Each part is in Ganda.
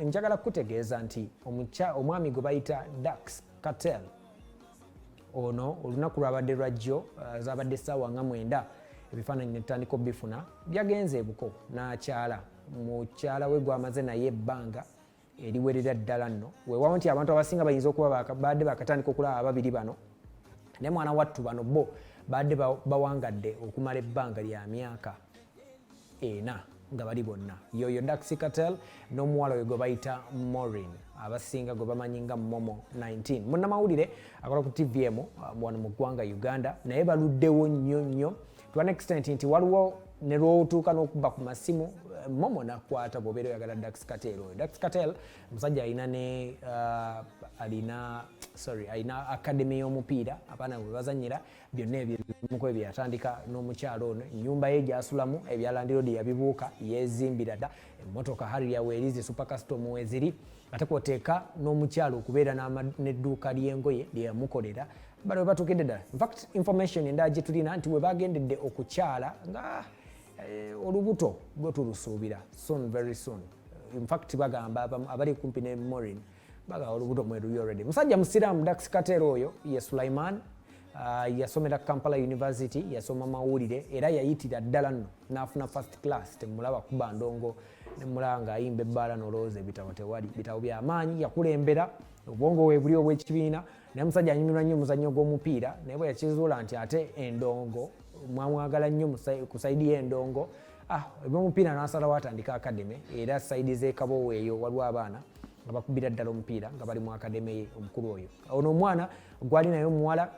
njagala kukutegeeza nti omwami gwe bayita dax cartel ono olunaku lwabadde lwajjo uh, zabadde saawa nga mwenda ebifaananyi netutandika obifuna byagenze ebuko n'akyala mukyala we gwamaze naye ebbanga eriwerera ddala nno wewawo nti abantu abasinga bayinza okuba baadde bakatandika okulaba ababiri bano naye mwana wattu bano bo baadde bawangadde okumala ebbanga lya myaka ena nga bali bonna yoyo daxi catel n'omuwala oyo gwe bayita morin abasinga gwe bamanyi nga momo 19 munnamawulire akola ku tvm uh, wano mu ggwanga uganda naye baluddewo nnyo nnyo to an extent nti waliwo ne lwotuuka n'okuba ku masimu uh, momo nakwata bwobeera oyagala dax catel oyo dax catel musajja alina ne uh, alina sorry alina academy y'omupiira abaana bwe bazanyira byonna ebyo ebimuko ebyo yatandika n'omukyalo ono ennyumba ye gyasulamu ebya landiroodi yabibuuka yeezimbira dda emmotoka harrier weerizi supercastom weziri ate kwoteeka n'omukyalo okubeera n'edduuka ly'engoye lyeyamukolera bano webatuukidde ddala infact information endala gye tulina nti webagendedde okukyala nga eh, olubuto gwe tulusuubira soon very soon infact bagamba abali kumpi ne morin baga olubuto mweruyi already musajja musiraamu dax katera oyo ye sulaiman uh, yasomera kampala university yasoma mawulire era yayitira ddala nno n'afuna first class temulaba kuba ndongo nemulaba nga ayimba ebbaala nolowooza ebitabo tewali bitabo byamaanyi yakulembera obwongo webuli obwekibiina naye musajja anyumirwa nnyo omuzannyo gw'omupiira naye bwe yakizuula nti ate endongo mwamwagala nnyo ku saidi y'endongo ah, ebyomupiira n'asalawo atandika akademe era saidi z'ekabowa eyo waliwo abaana nga bakubira ddala omupiira nga bali mu akademe ye omukulu oyo ono omwana gwali naye omuwala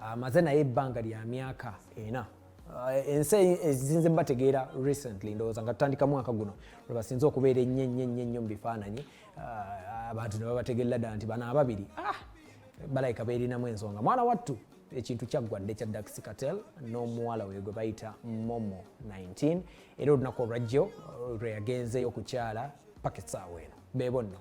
amaze ah, naye ebbanga lya myaka ena ah, ensi ezinze bategeera recently ndowooza nga tutandika mwaka guno lwebasinze okubeera ennyo ennyo ennyo nnyo mu bifaananyi ah, abantu ne babategerera ddala nti bano ababiri ah, balayika beerinamu ensonga mwana wattu ekintu kyaggwa dde kya dax catel n'omuwala we gwe bayita momo 19 era olunaku olwajjo lwe yagenzeyo okukyala paka essaawa eno beebo nno